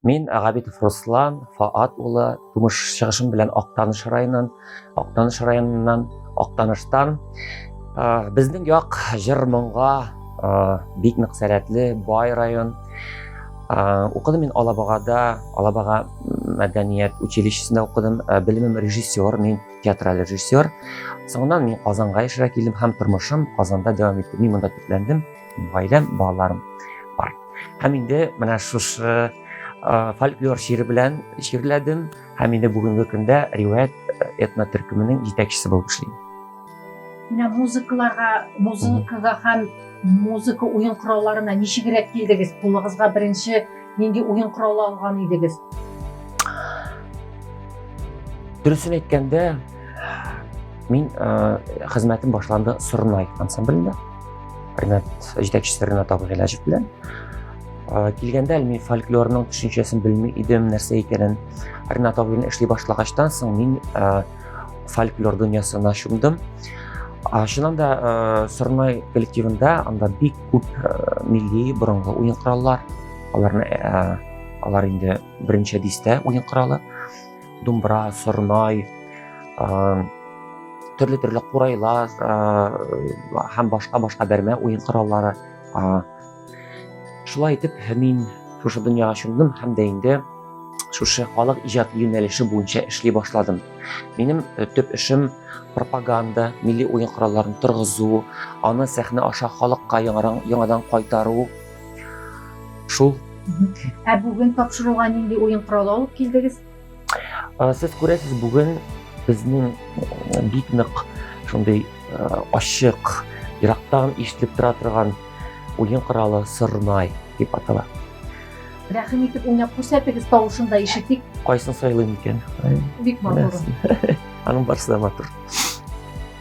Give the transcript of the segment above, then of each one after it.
Мин Габитов Руслан, Фаат улы, тумыш чыгышым белән Актаныш районын, Актаныш районыннан, Актаныштан. Безнең як җыр моңга бик нык сәләтле, бай район. Укыдым мин Алабагада, Алабага мәдәният училищесында укыдым. Белемем режиссер, мин театраль режиссер. Соңыннан мин Казанга яшәргә килдем һәм тормышым Казанда дәвам итте. Мин монда төпләндем. Гаиләм, балаларым бар. Һәм инде менә шушы фольклор шигыре белән шигырьләдем һәм инде бүгенге көндә риваять этно төркеменең җитәкчесе булып эшлим. Менә музыкаларга, музыкага һәм музыка уен коралларына ничегрәк килдегез? Кулыгызга беренче Нинди уен коралы алган идегез? Дөресен әйткәндә, мин хезмәтем башланды Сорнай ансамблендә. Ренат җитәкчесе Ренат Абыгыйләҗев белән. Килгәндә мин фольклорның төшенчәсен белми идем, нәрсә икәнен. Ренат абыйны эшли башлагачтан соң мин фольклор дөньясына чумдым чыннан да э, сырнай коллективында анда бик күп э, милли борынгы уен кораллар аларны э, алар инде беренче дистә уен коралы думбра сырнай төрле төрле курайлар һәм башка башка бәрмә уен кораллары Шулай итеп, мин шушы дөньяга чумдым һәм дә инде шушы халык иҗат юнәлеше буенча эшли башладым. Минем э, төп эшем пропаганда, милли уен коралларын торгызу, аны сәхнә аша халыкка яңадан, яңадан кайтару. Шул. Ә бүген тапшыруга нинди уен коралы алып килдегез? Сез күрәсез, бүген безнең бик нык шундый ачык, ерактан ишетелеп тора торган уен коралы сырнай дип атала. Рәхим итеп уйнап күрсәтегез, тавышын да ишетик. Кайсын сайлыйм икән? Бик матур. Аның барысы да матур.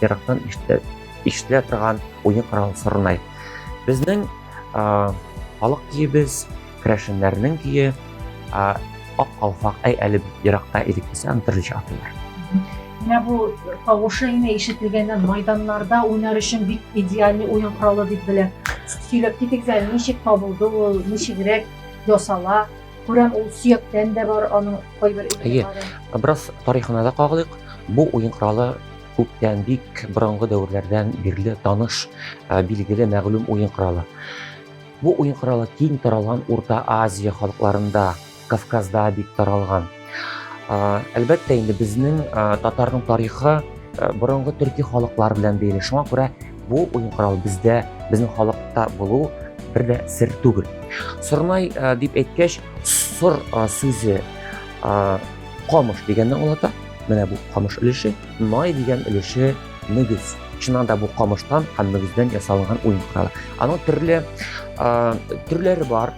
ерактан ишетелә торган уен коралы сорнай. Безнең халык киебез, керәшеннәрнең кие, ак калфак, әй әле еракта идек десе, аны төрлечә атыйлар. Менә бу тавышы генә ишетелгәннән майданнарда уйнар өчен бик идеальный уен коралы дип белә. Сөйләп китик әле, ничек табылды ул, ничегрәк ясала? Күрәм, ул сөяктән дә бар, аның кайбер Әйе, бераз тарихына да кагылыйк. Бу уен коралы Күптән бик борынгы дәверләрдән бирле таныш, билгеле, мәгълүм уен коралы. Бу уен коралы киң таралган Урта Азия халыкларында, Кавказда бик таралган. Әлбәттә, инде безнең татарның тарихы борынгы төрки халыклар белән бәйле. Шуңа күрә бу уен коралы бездә, безнең халыкта булу бер дә сер түгел. Сорнай дип әйткәч, сор сүзе камыш дигәнне аңлата. Менә бу камыш өлеше, най дигән өлеше мөгез. Чыннан да бу камыштан һәм мөгездән ясалган уен коралы. Аның төрле төрләре бар.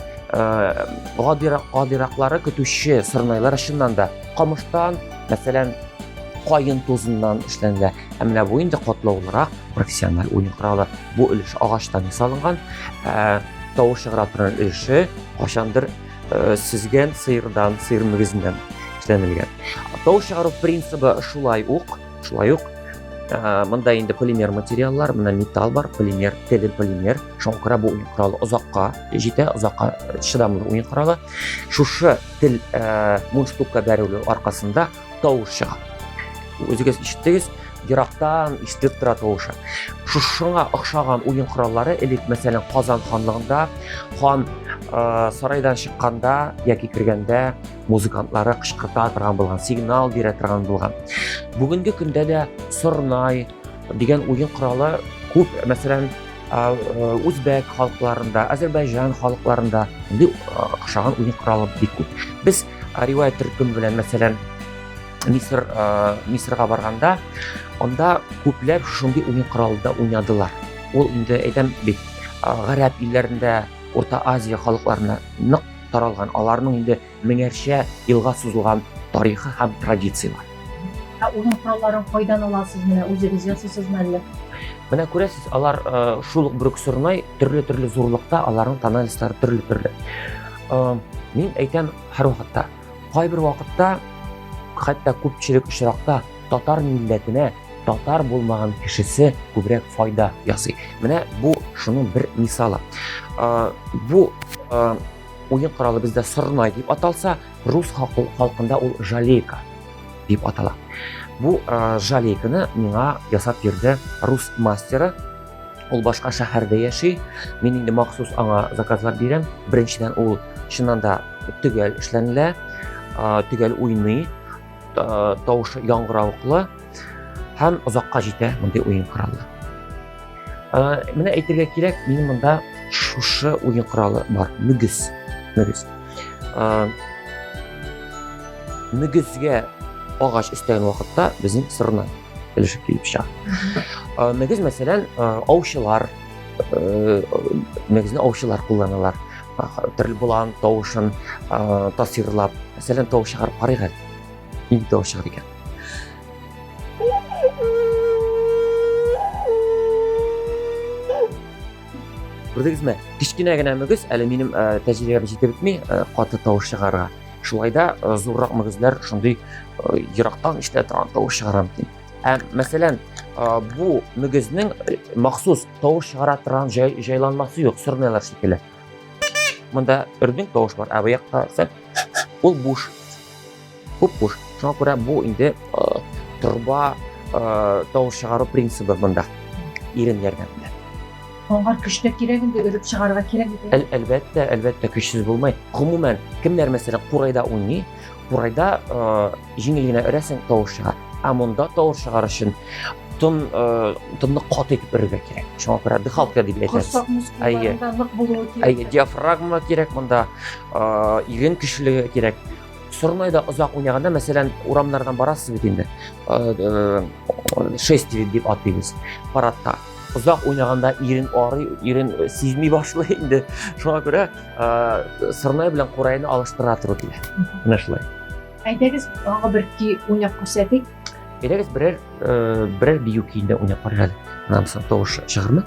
Гадирак гадираклары көтүче сырнайлар чыннан да камыштан, мәсәлән, кайын тузыннан эшләнелә. Ә менә бу инде катлаулырак профессиональ уен коралы. Бу өлеш агачтан ясалган. Тавыш чыгара торган өлеше кашандыр Сөзгән сыердан, сыер мөгезеннән эшләнелгән. Тау чыгару принцибы шулай ук, шулай ук ә, монда инде полимер материаллар, мына металл бар, полимер, теле полимер. Шуңа күрә бу уен коралы озакка җитә, озакка чыдамлы уен коралы. Шушы тел ә, мундштукка бәрелү аркасында тавыш чыга үзегез ишеттегез ерактан ишетелеп тора тавышы шушыңа охшаган уен кораллары элек мәсәлән казан ханлыгында хан ә, сарайдан чыкканда яки кергәндә музыкантлары кычкырта торган булган сигнал бирә торган булган бүгенге көндә дә сорнай дигән уен коралы күп мәсәлән үзбәк халыкларында әзербайжан халыкларында охшаган уен коралы бик күп без Ә риваять төркем белән, мәсәлән, Мисыр, ә, Мисырга барганда, анда күпләр шундый уен коралында уйнадылар. Ул инде әйтәм бит, ә, гарәп илләрендә, Урта Азия халыкларына нык таралган, аларның инде меңәрчә елга сузылган тарихы һәм традиция бар. Ә уен коралларын кайдан аласыз? Менә үзегез ясыйсызмы әллә? Менә күрәсез, алар э, шул ук Брюксурнай төрле-төрле зурлыкта, аларның тональностьлары төрле-төрле. мин әйтәм һәрвакытта кайбер вакытта хәтта күпчелек очракта татар милләтенә татар булмаган кешесе күбрәк файда ясый менә бу шуның бер мисалы бу уен коралы бездә сорнай дип аталса рус халкында ул жалейка дип атала бу жалейканы миңа ясап йөрде рус мастеры Ул башка шәһәрдә яши. Мин инде махсус аңа заказлар бирәм. Беренчедән ул чыннан да төгәл эшләнелә, төгәл уйный, тавышы яңгыравыклы һәм озакка җитә мондый уен коралы. Менә әйтергә кирәк, мин монда шушы уен коралы бар, мөгез. Мөгез. Мөгезгә агач өстәгән вакытта безнең сырнай. килешеп килеп чыга мөгез мәсәлән аучылар мөгезне аучылар кулланалар төрле болан тавышын тасвирлап мәсәлән тавыш чыгарып карыйк әле нинди тавыш чыгар икән күрдегезме кечкенә генә мөгез әле минем тәжрибәм җитеп бетми каты тавыш чыгарырга Шулай да э, зуррак мөгезләр шундый э, ерактан ишетелә торган тавыш чыгара микән? Ә мәсәлән, э, бу мөгезнең махсус тавыш чыгара торган җайланмасы юк, сөрмәләр шикелле. Монда үрдинг тавыш бар, ә бу якта ул буш. Күп буш. Шуңа күрә бу инде торба тавыш чыгару принцибы монда. Ирен ярдәмендә. Аңар көч тә кирәк инде, өреп чыгарга кирәк бит. Әл, әлбәттә, әлбәттә көчсез булмый. Гомумән, кемнәр мәсәлән курайда уйный, курайда э, җиңел генә өрәсең тавыш чыга. Ә монда тавыш чыгар өчен тон э, тонны каты итеп өрергә кирәк. Шуңа күрә дыхалка дип әйтәбез. Корсак мускулларында нык булуы кирәк. Әйе, диафрагма кирәк монда, э, ирен көчлеге кирәк. Сорнайда озак уйнаганда, мәсәлән, урамнардан барасыз бит инде. Шествие дип ат дибез. Парадта. Озак уйнаганда ирен арый, ирен сизми башлый инде. Шуңа күрә Сорнай белән Курайны алыштыра туры килә. Менә шулай. Әйдәгез, тагы бер көй уйнап күрсәтик. Әйдәгез, берәр берәр бию көенә уйнап карыйк әле. Аннан соң тавыш чыгармы?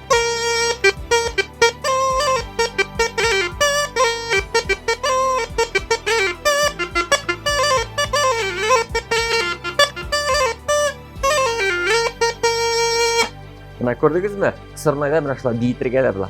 Менә күрдегезме? Сырнайда менә шулай биетергә дә була.